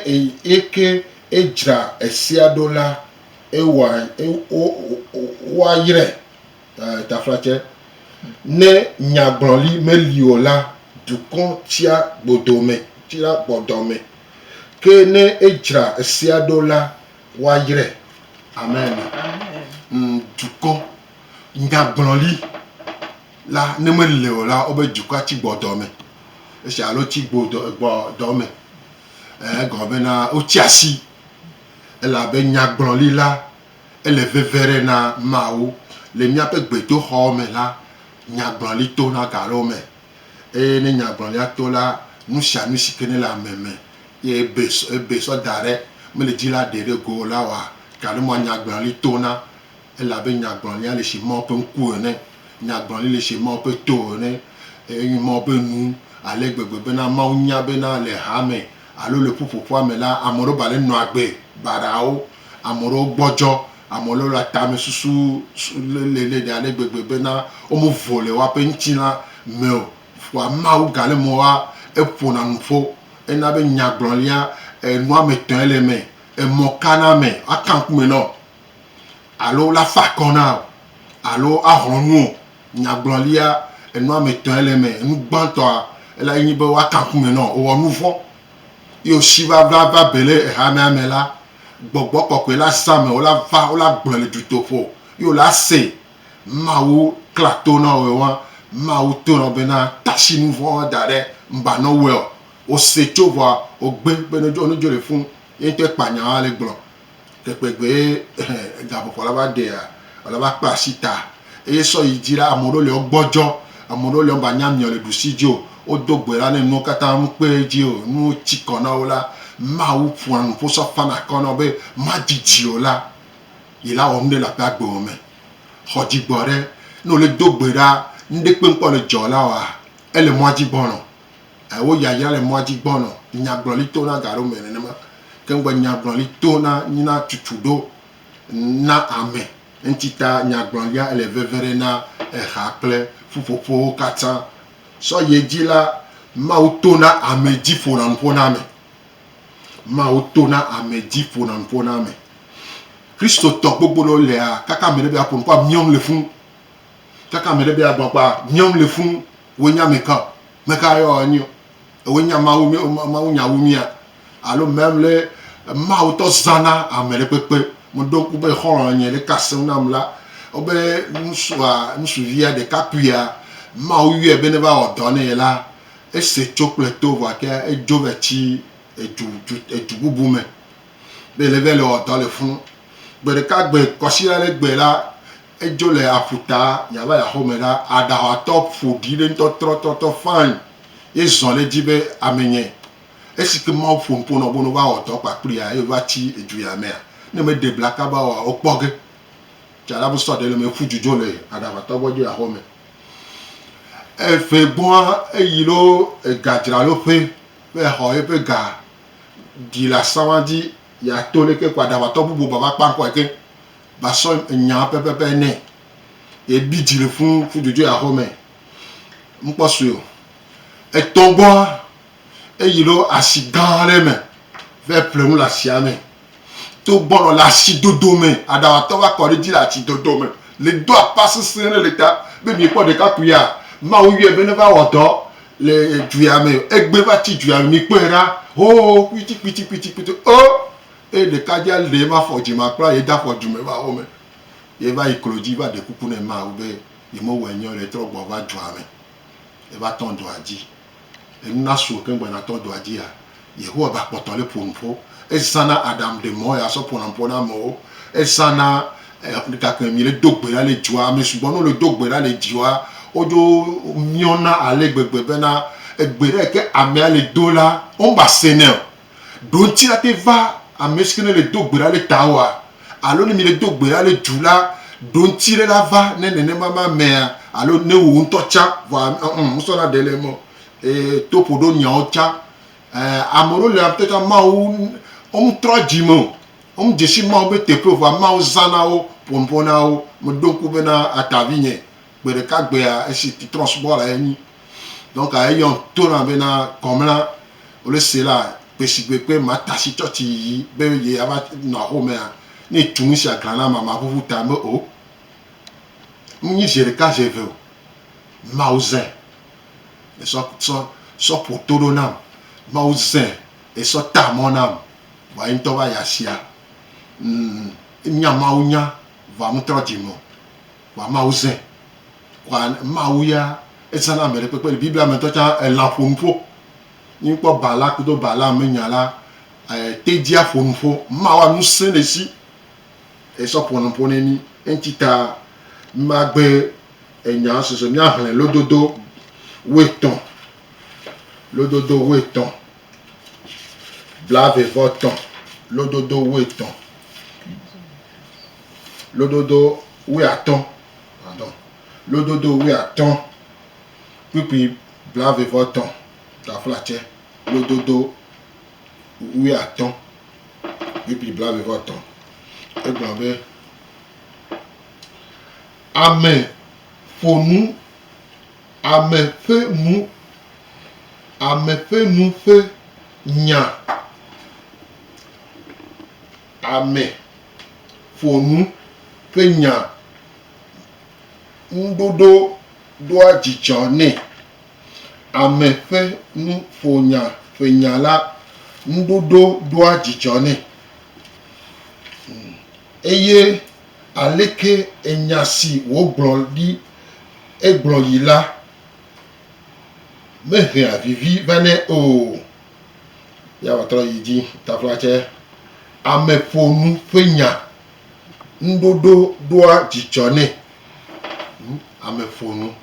eke edzra esea ɖo la, ewa, e, o, o, woayrae. Eh, taflatse. Ne nyagblɔli meli o la, dukɔ tsia gbodome, tsia gbɔdɔme, ke ne edzra esea ɖo la, Woayre ame ene. Amen. Dukɔ nyagblɔli la ne mele o la, wobe dukɔa tsi gbɔ dɔ me. Esia alo tsi gbo dɔ gbɔ dɔ me. Egɔme bena wotsi asi elabe nyagblɔli la ele veve ɖe na Mawu. Le míaƒe gbedoxɔ me la, nyagblɔli tona ga ɖewo me. Eye ne nyagblɔɖia to la, nu sia nu si ke nele ame me, eye ebe, ebe sɔ da ɖe mele dzi la ɖee ɖe go o la wɔa ga ɖe mɔa nyagblɔli tona. Elabe nyagblɔlia le si Mawu ƒe ŋku ene. Nyagblɔli le si Mawu ƒe to ene. Enye Mawu ƒe nu ale gbegbe bena Mawu nya bena le hame alo le ƒuƒoƒoa me la, ame ɖewo ba le nɔa agbe baɖaawo. Ame ɖewo gbɔdzɔ, ame ɖewo le tamɛsusu lele ɖe ɖe gbegbe bena wome vo le woaƒe ŋutilã me o. Vɔa Mawu gale mɔ wa eƒona nu ƒo. Ena be nyagblɔlia, enu ame etɔ̃ ye le eme. Emɔ ka na ame woaka ŋku me na wò alo la fa akɔ na wò alo axlɔ̃ nu wò. Nyagblɔlia, enu ame etɔ̃ ye le eme. Enu gbãtɔa, elae nye be woaka ŋku me na wò. Ewɔ nuvɔ̃. Eye wòsi va vava be le hamea me la, gbɔgbɔ kɔkɔe la zã ame wòla va wòla gblɔe le dutoƒo, eye wòla se Mawu kla to na woe woa, Mawu to na wo bena, Tasi nu vɔ̃ woa da ɖe ŋgba nɔ woe o. Wòse tso vɔa wògbe be ne wodzɔ nudzɔ le fũ, ye ŋutɔ ekpa nya woa le gblɔ. Ɖekpɛgbee gaƒoƒo la va ɖea, wòla va kpea asi ta. Eye sɔ yi dzi la, ame ɖewo le wogbɔdzɔ, ame ɖewo le womagba nya miɔ le ɖusi dzi o. Wodo gbe la ne nuwo katã nu kpe edzi o. Ne wotsi kɔ na wo la, Mawu ƒona nu ƒo sɔ fana kɔ na wo be madidi o la, ye la wɔ nu ɖe le aƒea gbewo me. Xɔ dzi gbɔ ɖe, ne wole do gbe ɖa, nuɖe kpekpe le dzɔ la wɔa, ele mɔa dzi gbɔnɔ. E wo yayra le mɔa dzi gbɔnɔ nyagblɔli to na gaɖo mɛ nenema ke ŋgbe nyagblɔli to na nyina tutu ɖo na ame. Eŋti ta nyagblɔlia ele veve ɖe na eha kple ƒuƒoƒowo katã. Sɔ yi edzi la, Mawu to na ame dzi ƒona nu ƒo na ame. Mawu to na ame dzi ƒona nu ƒo na ame. Kristotɔ gbogbo ɖewo lea kaka ame ɖe be aƒo nu ƒo amiɔm le fũ. Kaka ame ɖe be agbɔn kpa miɔm le funu wo nya me ka me ka yɔ anyi o ewo nya mawu mi mawu nya wu mia alo mɛm le mawu tɔ zana ame ɖe kpekpe mo ɖo ku be xɔlɔ nye ɖe ka seŋ nam la o be ŋusua ŋusu via ɖe ka kuia mawu yɔe be ne va wɔ dɔ ne ye la ese tso kple to vɔ ke edzo vɛ tsi edu du edu bubu me be le vɛ le wɔ dɔ le funu gbe ɖeka gbe kɔsi la le gbe la Edzo le aƒuta yeava yi axɔme ɖa. Aɖaxatɔ ƒo ɖi ɖe ŋutɔ trɔtrɔtrɔ ƒãe ye zɔ ɖe edzi be amenye. Esi ke Mawu ƒo nu ƒo nɔ be ne woawɔ dɔ kpakplii eye wova tsi edzo ya mea, ne meɖe bla kaba oa, wokpɔ ge. Tsa la be sɔ ɖe le eme ƒu dzudzɔ le aɖaxatɔ gbɔ dzo yi axɔme. Eƒe gbɔa eyi ɖo egadzraloƒe be yeaxɔ yeƒe ga ɖi le asawa dzi yeato leke ko aɖaxatɔ bubu bava kpã ŋkɔe ke. va sɔ enya pɛpɛpɛ nɛ. Ye bi dzi le ƒu ƒu dzodzo ya xɔ mɛ. Ŋkpɔ sue o. Etɔ gbɔa, eyi ɖo asi gã ɖe me vɛ ple nu le asia me. To gbɔ nɔ le asi dodo me. Aɖawatɔ va kɔ ɖe dzi le atsi dodo me le do akpa sese ɖe le ta be mi kpɔ ɖekakpui ya Mawu yɔɛ be ne va wɔ dɔ le dzu ya me. Egbe va tsi dzu ya me mi kpɔɛ ɖa. Hoo kpiti kpiti kpiti kpiti o eye ɖekadzea lee va fɔ dzi ma kpla ye da fɔ dume va wo me. Ye va yi klo dzi va ɖe kuku ne ma wo be ye me wɔe nyɔ le trɔ gbɔ va dua me. Ye va tɔn dua dzi. Enu na suo keŋ gbena tɔ dua dzi ya. Yehowa va kpɔtɔ le ƒonu ƒo. Ezã na Adam ɖe mɔ ya sɔ ƒona ƒo na mɔwo. Ezã na eh, gake mi le do gbe la le dua, mi sugbɔ no le do gbe la le dua. Wodzo miɔna ale gbegbe bena egbe ɖe ke amea le do la, womba se neo. Ɖo ŋutsi la te va ame si ke ne le do gbe ɖa le ta oa? Alo ne mi le do gbe ɖa le du la, ɖo ŋutsi ɖe la va ne nenema ma amea alo ne wò ŋutɔ tsa? Vɔa ɔ̃, wosɔ na ɖe le eme o. Ee, to ƒo ɖo nyawo tsa. Ɛɛ, ame ɖewo le ŋutɔ tsa Mawu, wo me trɔa dzi me o. Wo me dze si Mawu be teƒe o vɔa Mawu zã na wo, ƒo nu ƒo na wo. Me ɖo ŋku be na atavi nye Gbe ɖeka gbea, esi trɔ̃subɔla enyi, donc eyɔm to na be na gɔmla wole se la, gbesigbe kpe Martha si tsɔtsi yiyi be ye ya va nɔ axo mea, ne etu nu sia glã na ma ma ʋuʋu ta be o. Ŋ nyi ze ɖeka ze eve o. Mawu zẽ e sɔ sɔ sɔ ƒo to ɖo nam. Mawu zẽ e sɔ ta mɔ nam vɔa ye ŋutɔ va yi asia. Ŋ nya Mawu nya vɔa ŋ trɔ dzi me o. Kpɔa Mawu zẽ. Kpɔa Mawu ya ezã na ameɖe kpekpe. Le Biblia me ŋutɔ tsã elã ƒo nu ƒo. Ne míkpɔ Balak kudo Balaam ƒe nya la, tedzia ƒo nu ƒo. Mawua ŋusẽ le esi esɔ ƒo nu ƒo ne mí. Eŋuti ta mímagbe enyawo susu o. Míaxlẽ lododo wuietɔ̃. Lododo wuietɔ̃. Blaeve vɔ tɔ̃. Lododo wuietɔ̃. Lododo wuiatɔ̃, pardon, lododo wuiatɔ̃, kpukpui blaeve-vɔ-etɔ̃, taflatsɛ, lododo wuiatɔ̃, kpukpui blaeve-vɔ-etɔ̃. Egblɔ be, Ame ƒo nu, ame ƒe nu, ame ƒe nu ƒe nya. ame ƒo nu ƒe nya ŋu ɖoɖo ɖoa dzidzɔ nɛ. Ame ƒe nu ƒo nya ƒe nya la ŋu ɖoɖo ɖoa dzidzɔ nɛ. Eye aleke enya si wògblɔ ɖi egblɔ yi la mehea vivi vane o. Yea va trɔ yi dzi tafla tsɛ. Ameƒonu ƒe nya. Nuɖoɖo ɖoa dzidzɔ nɛ. Ameƒonu.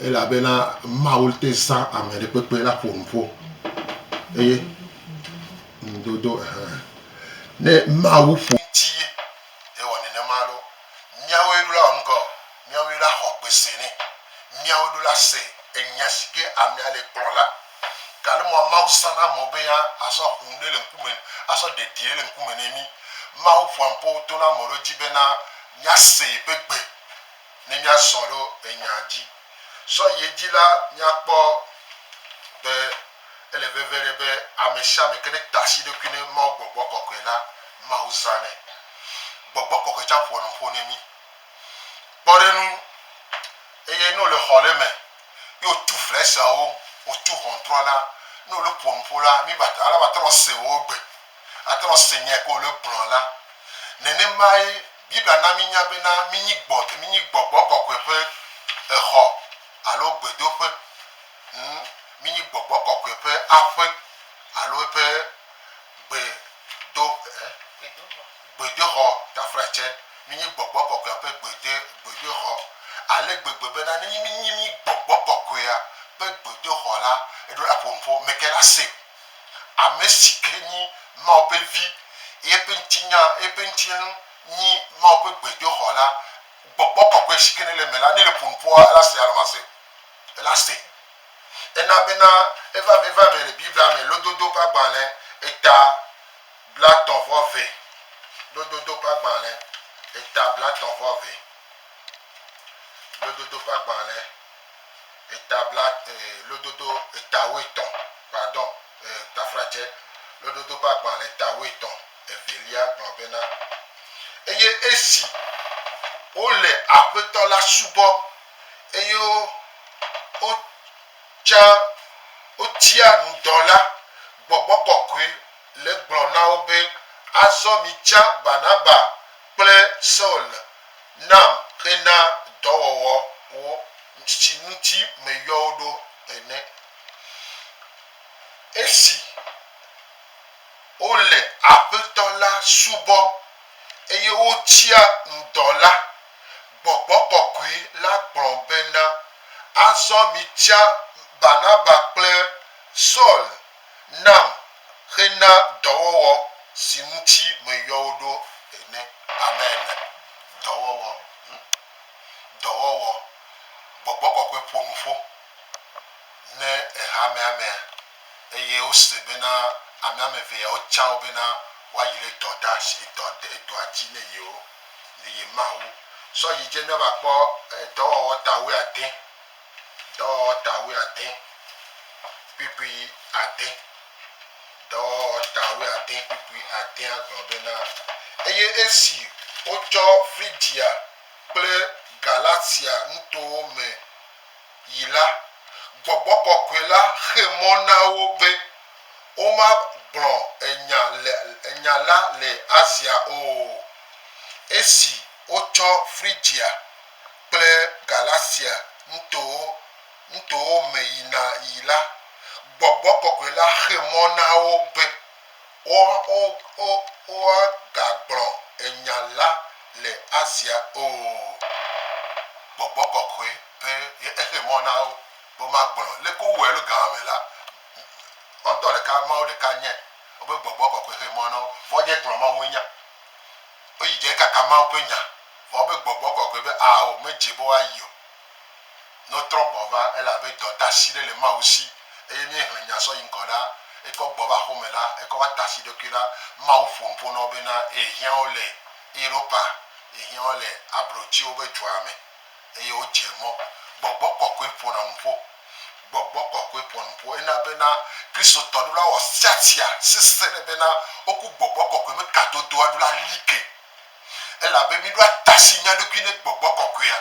Elabena Mawu te zã ame ɖe kpekpe la ƒonu ƒo. Eye nudodo ɛhɛ. Ne Mawu ƒo ŋti ye, ewɔ nenema ɖo. Míawoe ɖo la wɔ nukɔ? Míawoe la xɔ gbese nɛ. Míawoe ɖo la se enya si ke amea le gblɔ la. Gale mɔ Mawu zana mɔ be ya a sɔ ƒo ŋɖe le ŋkume, a sɔ ɖe ɖiɛ le ŋkume nɛ mi. Mawu ƒoa ŋpo to na mɔ ɖewo ji be na mia se yeƒe gbe ne mia zɔn ɖo enya ji. Sɔ ye ji la, mia kpɔ be ele veve ɖe be amesiame ke ne ta asi ɖokui ne Mawu gbɔgbɔ kɔkɔɛ la, Mawu zanɛ. Gbɔgbɔ kɔkɔɛ can ƒoa nu ƒo nɛ mi. Kpɔ ɖe nu, eye ne o le xɔ ɖe me, ye wotu ƒlɛsawo, wotu ʋɔntrɔ la, ne wole ƒo nuƒo la, mi ba ala ba tenɔ se wowo gbe, atenɔ se nya yi ke wole gblɔ la. Nenemae Biblia na mi nya bena mi nyi gbɔ, mi nyi gbɔgbɔ kɔkɔe ƒe exɔ alo gbedoƒe. Hm, mi nyi gbɔgbɔ kɔkɔe ƒe aƒe alo eƒe gbedo, eh, Gbedoxɔ tafratsɛ. Mínyi gbɔgbɔ kɔkɔea ƒe gbedo, gbedoxɔ ale gbegbe bena nenye mínyi mí gbɔgbɔ kɔkɔea ƒe gbedoxɔ la, eɖo la ƒo nu ƒo meke la se. Ame si ke nyi Mawu ƒe Vi, eye eƒe ŋutinya, eƒe ŋutilnu nyi Mawu ƒe gbedoxɔ la, gbɔgbɔ kɔkɔe si ke nele eme la, ne le ƒo nu ƒoa, ela se alo mase? Ela se. Ena bena, vevamɛ vevamɛ le Biblia me, Lododo ƒe agbalẽ, eta, Blatɔ̃ vɔ ve, lododo ƒe agbalẽ, eta blatɔ̃ vɔ ve, lododo ƒe agbalẽ, eta bla, eh, lododo eta wuietɔ̃, pardon, eh, tafratsɛ, lododo ƒe agbalẽ, eta wuietɔ̃, evelia gblɔ bena, Eye esi wole Aƒetɔ la subɔm, eye wo, wotsã wotia nu dɔ la, Gbɔgbɔ Kɔkɔe le gblɔ na wo be, Azɔ mitsã Barnaba kple Saul nam hena dɔwɔwɔ wo si ŋuti meyɔ wo ɖo ene. Esi wole Aƒetɔ la subɔm eye wotsia ŋdɔ la, gbɔgbɔ kɔkɔe la gblɔ bena, Azɔ mitsã Barnaba kple Saul Nam xe na dɔwɔwɔ si ŋuti meyɔ wò ɖo ene. Amen. Dɔwɔwɔ. Hm? Dɔwɔwɔ. Gbɔgbɔ kɔkɔe ƒo nu ƒo ne ehamea mea, eye wose bena amea me eve yawo tsa wo bena woayi ɖe dɔ ɖa si edɔ de edɔa dzi ne yewo, ne ye Mawu. Sɔ yi dze mía va kpɔ edɔwɔwɔ ta wuiade. Dɔwɔwɔta wuiade kpukpui ade. Dɔwɔwɔta wuiade kpukpui adea gblɔ bena, Eye esi wotsɔ Frigia kple Galatia nutowo me yi la, gbɔgbɔ kɔkɔe la xe mɔ na wo be womagblɔ enya le, nya la le Asia o. Esi wotsɔ Frigia. kple Galatia nutowo nutowo me yina yi la, gbɔgbɔ kɔkɔe la xe mɔ na wo be woagagblɔ nya la le Asia o. Gbɔgbɔ kɔkɔe be exe mɔ na wo be womagblɔ. Leke wowɔe alo ga ma me la, woawo ŋutɔ ɖeka, Mawu ɖeka nye woƒe gbɔgbɔ kɔkɔe xe mɔ na wo be woagagblɔ Mawunya. Woyi dze kaka Mawu ƒe nya, vɔ wobe gbɔgbɔ kɔkɔe be ao medze be woayi o. Ne wotrɔ gbɔ va, ele abe dɔdasi ɖe le Mawu si eye ne ehlẽ nya sɔ yi ŋgɔ la, ekɔ gbɔ va aƒeme la, ekɔ va ta asi ɖokui la, Mawu ƒo nu ƒo na wo bena, Yehiã wo le Europa, yehiã wo le abrotiwo be dua me. Eye wodze mɔ. Gbɔgbɔ kɔkɔe ƒona nuƒo. Gbɔgbɔ kɔkɔe ƒona nuƒo. Ena bena Kristotɔ ɖo la wɔ siasia sese ɖe bena woku gbɔgbɔ kɔkɔe me kadodoa ɖo la like. Elabe miɖo atasi mia ɖokui ne gbɔgbɔ kɔkɔea.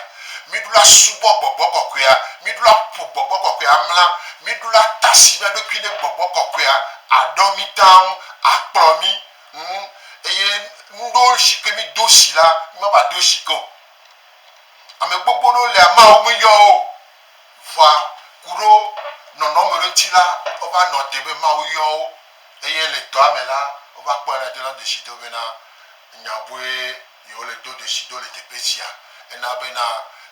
Miɖo la subɔ gbɔgbɔ kɔkɔea. Miɖo la ƒo gbɔgbɔ kɔkɔea amla. Miɖo la tasi mia ɖokui ne gbɔgbɔ kɔkɔea aɖɔ mi taŋ akplɔ mi ŋu. Eye nuɖewo shike mido shi la, mi ma va do shi ke o. Ame gbogbo ɖewo le amea wo me yɔ wo. Vɔa ku ɖo nɔnɔme ɖe ŋuti la, wova nɔ te be Mawu yɔ wo eye le dɔa me la, wova kpɔe la dona ɖesi do bena nya bue yewo le do ɖesi do le teƒe sia. Ena bena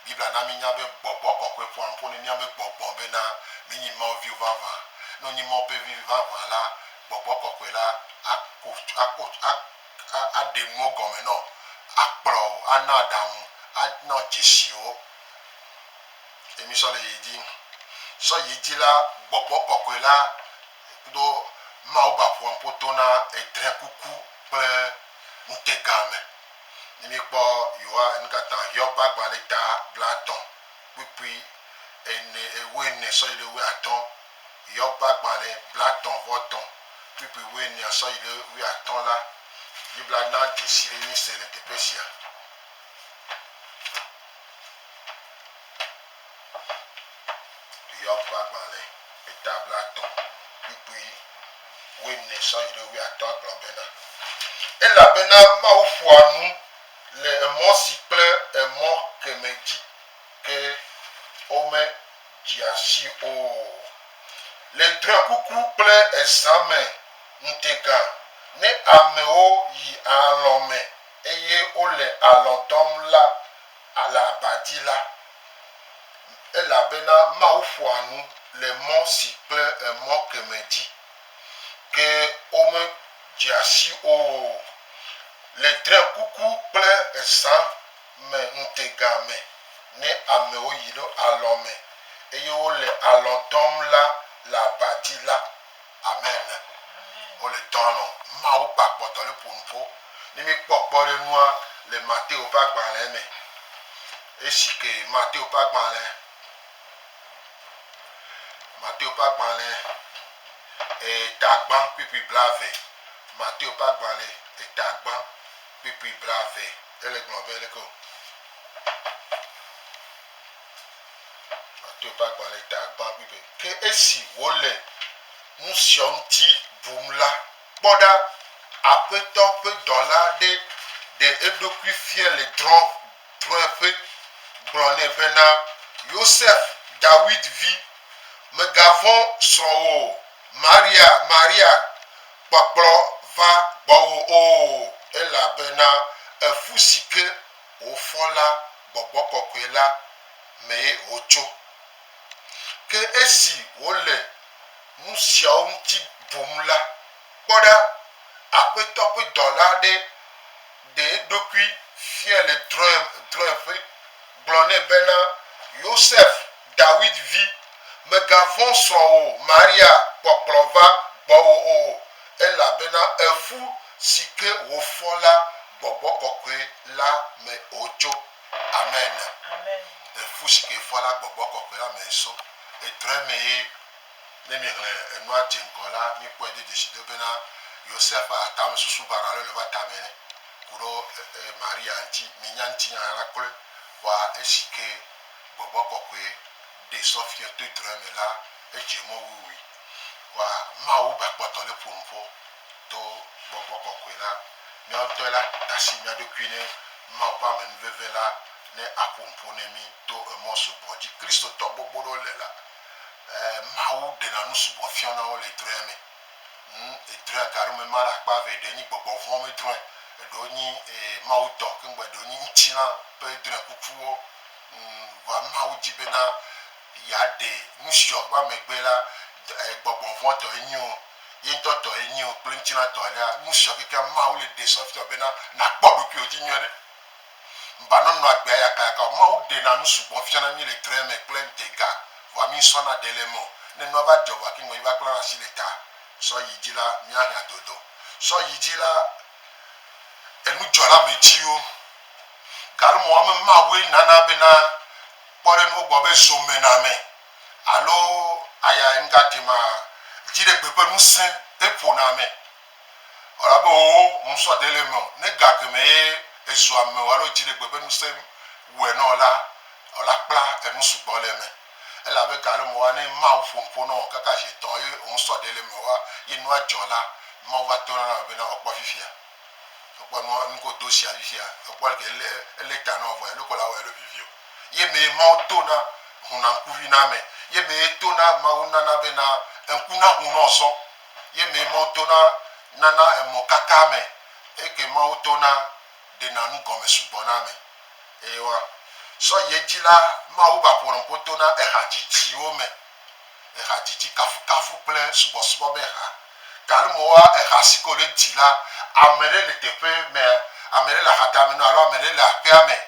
Biblia na mínya be gbɔgbɔ kɔkɔe ƒoa nu ƒo ne míaƒe gbɔgbɔ bena mínyi Mawu viwo vavã. Ne wonye Mawu ƒe viwo vavã la, gbɔgbɔ kɔkɔe la ako, ako, a. aɖe nuwo gɔme na wò, akplɔ wò, ana aɖaŋu, ana wò dzesiwo. Ye mi sɔ le ye dzi. Sɔ ye dzi la, gbɔgbɔ kɔkɔe la kudo Mawu ba ƒoa ŋƒo to na edre kuku kple ŋutega me. Ne mi kpɔ Yoa nukata Hiob ba gbalẽ ta blatɔ kpukpui ene, ewɔ ene sɔ yi ɖe ewɔ atɔ. Yɔ gbagbalẽ blatɔ̃ vɔ tɔ̃ kplikpli wuienea sɔ yi ɖe wuiatɔ̃ la, Biblia na dzesi ɖe nu si le teƒe sia. Yɔ gbagbalẽ eta blatɔ̃ kplikpli wuiene sɔ yi ɖe wuiatɔ̃ gblɔ bena, Elabena Mawu ƒoa nu le emɔ si kple emɔ kemɛ dzi. Ke wome dzea si o. Le drɔekuku kple ezã me ŋutega, ne amewo yi alɔ̃ me eye wole alɔ̃ dɔm la le aba dzi la, elabena Mawu ƒoa nu le mɔ si kple emɔ kemɛ dzi. Ke wome dzea si o. Le drɔekuku kple ezã. me ŋutega me ne amewo yi ɖo alɔ̃ me eye wole alɔ̃ dɔm la le aba dzi la. Amen. Wole dɔ alɔ̃. Mawu ƒe akpɔtɔ le ƒo nu ƒo. Ne míkpɔ kpɔɖenua le Mateo ƒe agbalẽ me, esi ke Mateo ƒe agbalẽ, Mateo ƒe agbalẽ eta gbã kpukpui blaeve, Mateo ƒe agbalẽ eta gbã kpukpui blaeve. Ele gblɔm abe aleke wò Matiyo ƒe agbalẽ ta gbã ƒui be, Ke esi wòle nu sia ŋuti bum la, kpɔ ɖa, Aƒetɔ ƒe dɔla aɖe ɖe eɖokui fia le drɔ̃eƒe, gblɔ nɛ bena, Yosef, Dawid vi, mègavɔ̃ srɔ̃wò o, Maria, Maria, kpɔkplɔ va gbɔwò o, elabena eƒu si ke wòfɔ la gbɔgbɔ kɔkɔe la mee wòtso. Ke esi wòle nu siawo ŋuti bum la, kpɔ ɖa, Aƒetɔ ƒe dɔla aɖe ɖe eɖokui fia le drɔ̃eƒe. gblɔ nɛ bena, Yosef, Dawid vi, mègavɔ̃ srɔ̃wò Maria kpɔkplɔ va gbɔwò o, elabena eƒu si ke wòfɔ la gbɔgbɔ kɔkɔe la me wòtso. Amen. Eƒu si ke efɔ la gbɔgbɔ kɔkɔe la mee so. Edrɔ̃e mee. Ne miexlẽ enua dze ŋgɔ la, mikpɔe do dzesi do bena Yosef ƒe atamɛsusu baɖa lɔe le eƒe atame nɛ. ku ɖɔ e Maria ŋtsi, mi nya ŋtsi nya la kple wa esi ke gbɔgbɔ kɔkɔɛ ɖe sɔfiɛ to drɔɛ me la edze mɔ wuiwui wa Mawu ba kpɔtɔ le ƒo nuƒɔ to gbɔgbɔ kɔkɔɛ la. Miawo ŋtɔɛ la tasi mia ɖokui ne Mawu ƒe ame nuveve la ne a ƒo nuƒo ne mi to emɔ sugbɔ dzi Kristotɔ gbogbo ɖewo le la e Mawu ɖena nu sugbɔ fiɔna wo le drɔɛ me Ŋ, edrɔ̃e aga ɖewo me ma ɖe akpa eve, eɖewo nyi gbɔgbɔ vɔ̃ me drɔ̃e, eɖewo nyi e, Mawu tɔ, keŋgbɔ eɖewo nyi ŋutilã ƒe drɔ̃ekukuwo. Ŋ, vɔa Mawu di bena yeaɖe nusiɔ va megbe la, d, e, gbɔgbɔ vɔ̃ tɔ enyi o, ye ŋutɔ tɔ enyi o kple ŋutilã tɔ alea, nusiɔ kekeŋ Mawu le ɖe sɔ fiɔ bena nàkpɔ ɖokuiwò dzi nyuiɖe. Ŋba nɔnɔ agbea yakayaka o. Mawu ɖena nu sugbɔ fiana mí le drɔ̃e me kple ŋutega, vɔa mísɔna ɖe le eme o. Ne nua va dzɔ vɔ kiŋgɔdzi va klãna asi le ta sɔ yi dzi la, míahiã dodo. Sɔ yi dzi la, enu dzɔ le ame dziwo. Gale mɔ ame mawoe nana bena kpɔɖenuwo gbɔ be zomename alo aya ŋugatema, dziɖegbe ƒe ŋusẽ eƒona ame. Elabe wò ŋusɔ de le eme o, ne ga kemɛ ye ezu ame o alo dziɖegbe ƒe ŋusẽ wɔe nɔ eo la, eo la kpla enu sugbɔ le eme. Elabe ga lɔ me wa ne Mawu ƒo nuƒo nɔ eo kaka zi etɔ̃ eye wò ŋusɔ de le eme o ye nua dzɔ la, Mawu va tona na ame bena eo kpɔ fifia. Eo kpɔ nua enu ko do shia fifia, eo kpɔ leke ele ele ta nɔ eo vɔ elo ko la wɔ elo vivi o. Ye me ye Mawu tona huna ŋkuvi na ame, ye me ye tona Mawu nana bena eŋku na hu nɔ zɔn. Ye mee Mawu tona nana emɔ katã me. Eye ke Mawu tona ɖena nu gɔme sugbɔ na ame. Eye wa sɔ yi edzi la, Mawu va ƒo nuƒo to na eha dzidziwo me. Eha dzidzi kafukafu kple subɔsubɔ be ha. Galo mɔ wa eha si ke wo le dzi la, ame ɖe le teƒe me, ame ɖe le aha dame nɔ alo ame ɖe le aƒea me.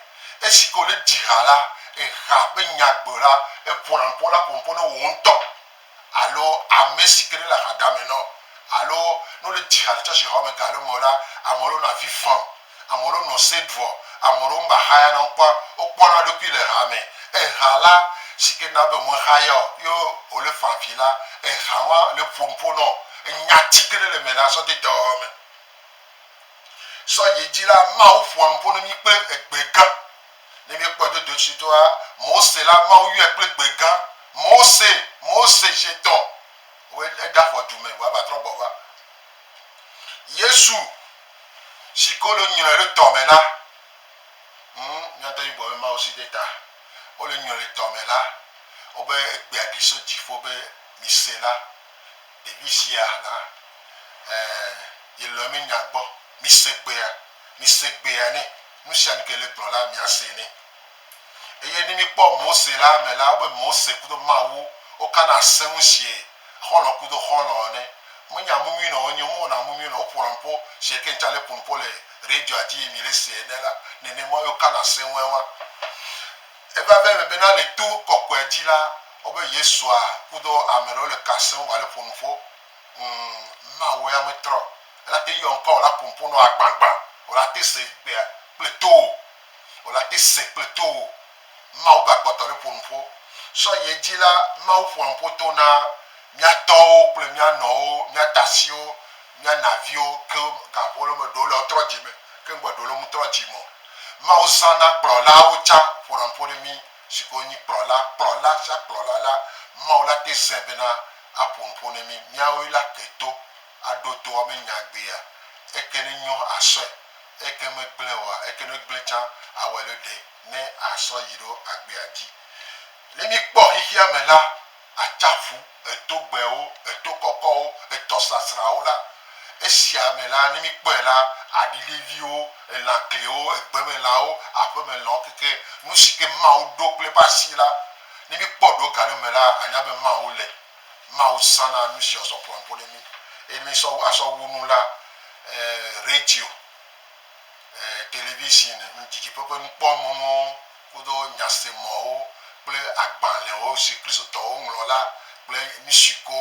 Esi ke wo le dzi ha la, eha ƒe nya gbe la, eƒo na nuƒo la ƒo nuƒo ne wò ŋutɔ. alo ame si ke ɖe le aha dame nɔ alo ne wole dzi ha le tsɔtsi xɔ me ga ɖe me la, ame ɖewo nɔ avi fam, ame ɖewo nɔ se ɖuɔ, ame ɖewo meva xaya na ŋkua wokpɔ na ɖokui le ha me. Eha la si ke na be me xaya o ye wole fa vi la, eha ma le ƒo nuƒo nɔ enya ti ke ɖe le me la sɔ de dɔwɔwɔ me. Sɔ yi edzi la, Mawu ƒoa nuƒo ne mi kple egbe gã. Ne míekpɔe do dotsitoa, Mose la, Mawu yɔe kple gbe gã, Mose, Mose, zetɔ, wòe ne eda xɔ du me, vɔ eva trɔ gbɔ va. Yesu, si ke wole nyrɔe ɖe tɔ me la, ŋ, míate ŋu gblɔ be Mawu si ɖe ta, wole nyrɔe ɖe tɔ me la, wobe egbea ɖi so dziƒo be, Mise la, ɖevi sia la, ɛɛ, yelɔ̃e menya gbɔ, mise gbea. Mise gbea nɛ. Nu sia nu ke le gblɔ la, miase nɛ. Eye ne mikpɔ Mose la me la, wobe Mose kudo Mawu wokana ase ŋu sie xɔlɔ kudo xɔlɔ ene. Menya mu nyuie nɔ wo nyi, mewɔna mu nyuie nɔ wo ƒona nuƒo sie ke ŋtsa le ƒo nuƒo le radioa dzi ye mi le se ene la, nenema ye wokana ase ŋue wa. Eva va eme bena le to kɔkɔea dzi la, wobe Yesua kudo ameɖewo le ka ase ŋu va le ƒo nuƒo. Ŋ ma wòe ame trɔ, ela te yɔ ŋkɔ wòla pompom nɔ agbãgbã, wòla te se ŋkpea kple to o, wòla te se kple to o. Mawu ba kpɔtɔ ɖe ƒo nuƒo. Sɔ yi edzi la, Mawu ƒoa nuƒo to na mía tɔwo kple mía nɔwo, mía tasiwo, mía naviwo ke gaƒo le me ɖewo le wotrɔ dzi me ke ŋgbe ɖewo le ŋutrɔ dzi me o. Mawu zãna kplɔlawo tsã ƒona nuƒo ɖe mí. si ke wonyi kplɔla, kplɔla sia kplɔla la, Mawu la te zãe bena aƒo nu ƒo ne mí. Míawoe la ke to, aɖo to woabe nyagbea. Eke ne nyo asɔe, eke megblẽ oa, eke ne gblẽ tsã awɔe ɖe ɖe ne asɔ yi ɖo agbea dzi. Ne míkpɔ xexeame la, Atsaƒu, etogbewo, eto kɔkɔwo, etɔsasrawo la, esia me la, ne míkpɔe la, aɖiɖeviwo, elã klewo, egbemelãwo, aƒemelãwo keke nu si ke Mawu ɖo kple eƒe asi la, ne míkpɔ ɖo ga ɖe me la, ànya be Mawu le. Mawu zãna nu sia sɔ ƒoa ƒo ɖe mí. Eye ne mísɔ asɔ wu nu la, e, radio. television, didiƒe ƒe nukpɔmɔ̃wo kudo nyasemɔ̃wo kple agbalẽwo si Kristotɔwo ŋlɔ la kple nu siwo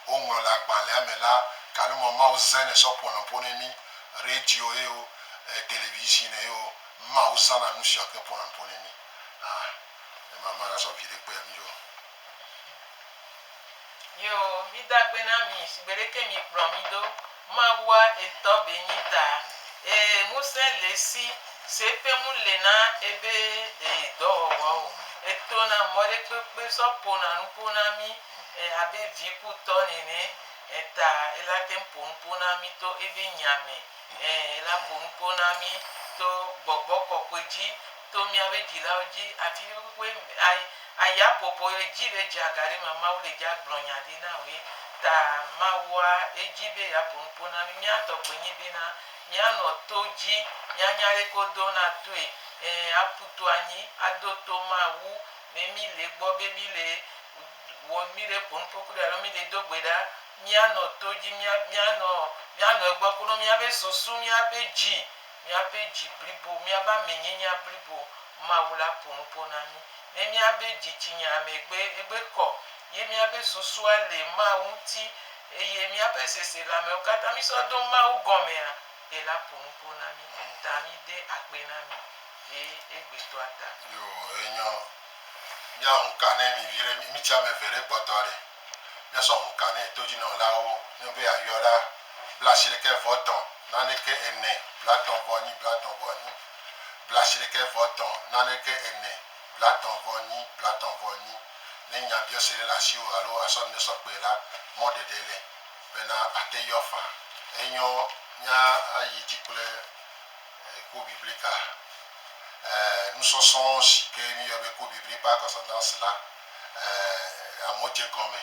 woŋlɔ le agbalẽa me la, galo me Mawu zãnɛ sɔ ƒo nu ƒo na mí. Radio ye o, television ye o, Mawu zãna nu sia keŋ ƒona nu ƒo na mí. Ah, ne mama nasɔ viɖe kpe mí ɖo. Yio, mi da kpe na mi shigbe leke mi kplɔ mi do Mawua etɔ be nyi ta. Ee, ŋusẽ le si se ƒe mu le na ebe e dɔ wɔwɔ o. Eto na mɔ ɖe kpekpe sɔ po na nu po na mi e abe vi ku tɔ nene e ta ela te ŋpo nu po na mi to ebe nya me. Ee, ela po nu po na mi to gbɔgbɔ kɔkɔe dzi To miabe dzilawo dzi afi kpekpekpe aya popo edzi be dzea ga ɖe me Mawu le dzea gblɔ nya ɖi na woe ta Mawua edzi be ya ƒo nuƒo na mi mia tɔ gbe nyi be na mia nɔ to dzi mia nya ɖe ko do na toe e aƒu to anyi ado to Mawu me mi le gbɔ be mi le wɔ mi le ƒo nuƒo kple alo mi le do gbe ɖa mia nɔ to dzi mia mia nɔ mia nɔ egbɔ kple miabe susu miaƒe dzi. Míaƒe dzi blibo, míaƒe amenyenya blibo, Mawu la ƒo nu ƒo na mí. Ne míabe dzitsinya me gbe, egbe kɔ, ye míabe susua le Mawu ŋuti, eye míaƒe seselãmewo katã mísɔ do Mawu gɔmea, ela ƒo nu ƒo na mí. Ta mide akpe na mi le egbetɔa ta. Yo, enyɔ. Míahu ka nɛ mi viɖe, mí, mítsi ame eve ɖe kpɔtɔ ɖe? Míasɔ ŋu ka nɛ todzinɔlawo ne be yeayɔ la blaasiɖeke vɔ tɔ̃ naneke ene blatɔ̃ vɔ nyi blatɔ̃ vɔ nyi blaasiɖeke vɔ tɔ̃ naneke ene blatɔ̃ vɔ nyi blatɔ̃ vɔ nyi. Ne nyabiɔse ɖe le asiwò alo àsɔ nane sɔ kpee la, mɔ ɖeɖe le bena àte yɔ faa. Enyɔ mía ayi dzi kple Cours biblique-a, nusɔsrɔ̃ si ke míyɔ be Cours biblique par correspondance la. eh, amewo dze gɔme,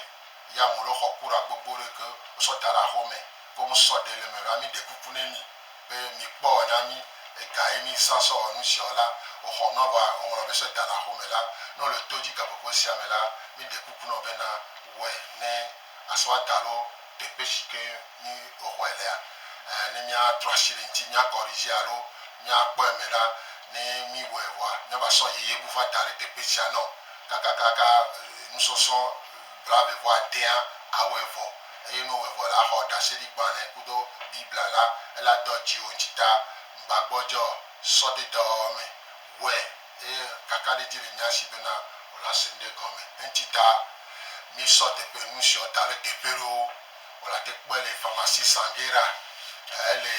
ye ame ɖewo xɔ kura gbogbo ɖe ke wosɔ da ɖe aƒewo me, ke wome sɔ ɖɛ le eme ɖoa, mi ɖe kuku ne mi be mi kpɔ ɔ na mi ega ye mi zã sɔ wɔ nu sia wɔ la, wo xɔ nua vɔa wo ŋlɔ be sɔ da ɖe aƒewo me la, ne wole to dzi gaƒoƒo sia me la, mi ɖe kuku nɔ be na wɔe ne asɔ ada ɖo teƒe si ke mi xɔe lea, eh, ne mia trɔ asi le eŋti, mia kɔrize alo mia kpɔ eme ɖa, ne mi wɔe vɔa mia va sɔ yeye bu va da ɖe teƒe sia nɔ. Kakakaka nusɔsɔ blaeve vɔ adea awɔe vɔ, eye ne wòwɔe vɔ la, axɔ ɖaseɖigbã nɛ kudo Biblia la. Ele adɔ dziwò ŋtsi ta ŋgbagbɔdzɔ sɔ de dɔwɔwɔ mɛ. Wɔe, eye kakaɖedzi le nya si bena wòle ase ŋɖe gɔme eŋtsi ta. Mísɔ teƒe nusiɔ da le teƒe ɖewo. Wòle ate kpɔe le Pharmacie Sanguera, ele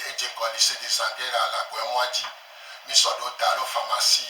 edzeŋkɔ Lycee de Sanguera le Agboemɔa dzi. Mísɔ ɖewo da lo Pharmacie.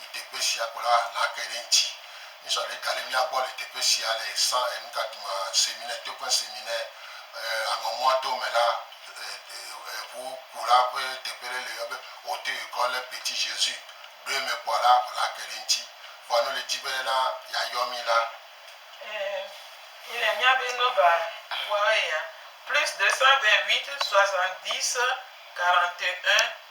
Le teƒe sia ko la, nàkpe ɖe eŋuti. Míesɔ ɖe ga ɖe mía gbɔ le teƒe sia le San Enukatuma Seminɛ, Token Seminɛ, aŋɔmɔa to me la, ʋu ku la ƒe teƒe ɖe le yɔ be Haute Ecole le Petit Jesus. Ɖo eme kpɔ la, nàkpe ɖe eŋuti. Vɔa ne wòle di be na yeayɔ mí la. Eee, míele mía be nɔba ŋua eya, plus 228 70 41.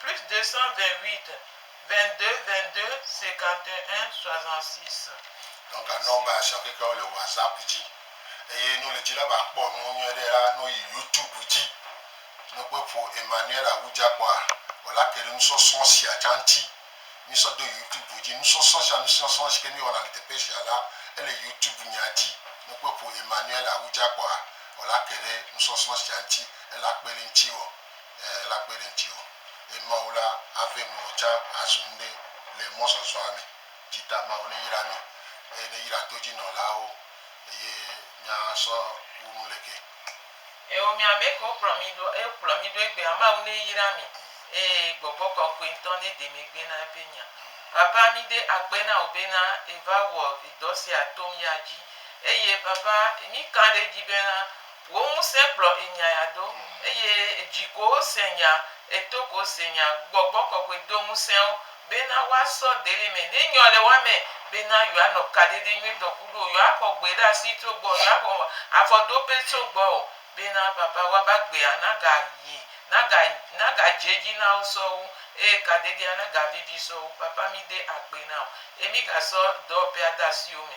Plus 228 22 22 51 66. Nɔ ga nɔ ba sia keke wo le whatsapp ji eye no le ji la ba kpɔ nuwo nyuie ɖe la no yi youtube ji no kpe ƒo Emmanuel Awudza kpɔ a wo la ke ɖe nusɔsrɔ̃ sia tsa ŋti mi sɔ do youtube ji nusɔsrɔ̃ sia nusɔsrɔ̃ si ke mi wɔna le teƒe sia la ele youtube nya ji no kpe ƒo Emmanuel Awudza kpɔ a wo la ke ɖe nusɔsrɔ̃ sia ŋti ela kpe ɖe ŋti wɔ. la kpe ɖe ŋuti o, eye Mawu la ave nuwo tsã azu nuɖe le mɔzɔzɔa me, ci ta Mawu neyra mí, eye neyra todzinɔlawo, eye míasɔ wu nu le ke. Eo, mi amɛ kewo kplɔ mi ɖo eo kplɔ mi ɖo egbea, Mawu ne yra mi, eye Gbɔgbɔ Kɔkɔɛ ŋtɔ ne de mi gbe na ebe nya. Papa, mi de akpe na wò be na eva wɔ edɔ sia tom ya dzi, eye Papa, mi ka ɖe edzi be na Wò ŋusẽ kplɔ enyaya do, eye edzi ko wose nya, eto ko wose nya. Gbɔgbɔ kɔkɔe do ŋusẽ wo bena woasɔ deli me ne nyɔ le woa me, bena yewoanɔ kaɖedɛ nyuitɔ kuɖo wo, yewoaxɔ gbe ɖe asi tso gbɔwò, yewoaxɔ afɔdoƒe tso gbɔwò, bena Papa woa be agbea naga yi, naga, naga dze edzi na wo sɔwu, eye kaɖedɛa naga vivi sɔwu. Papa, mi de akpe na wo, eye mi ga sɔ dɔwɔƒea de asiwò me.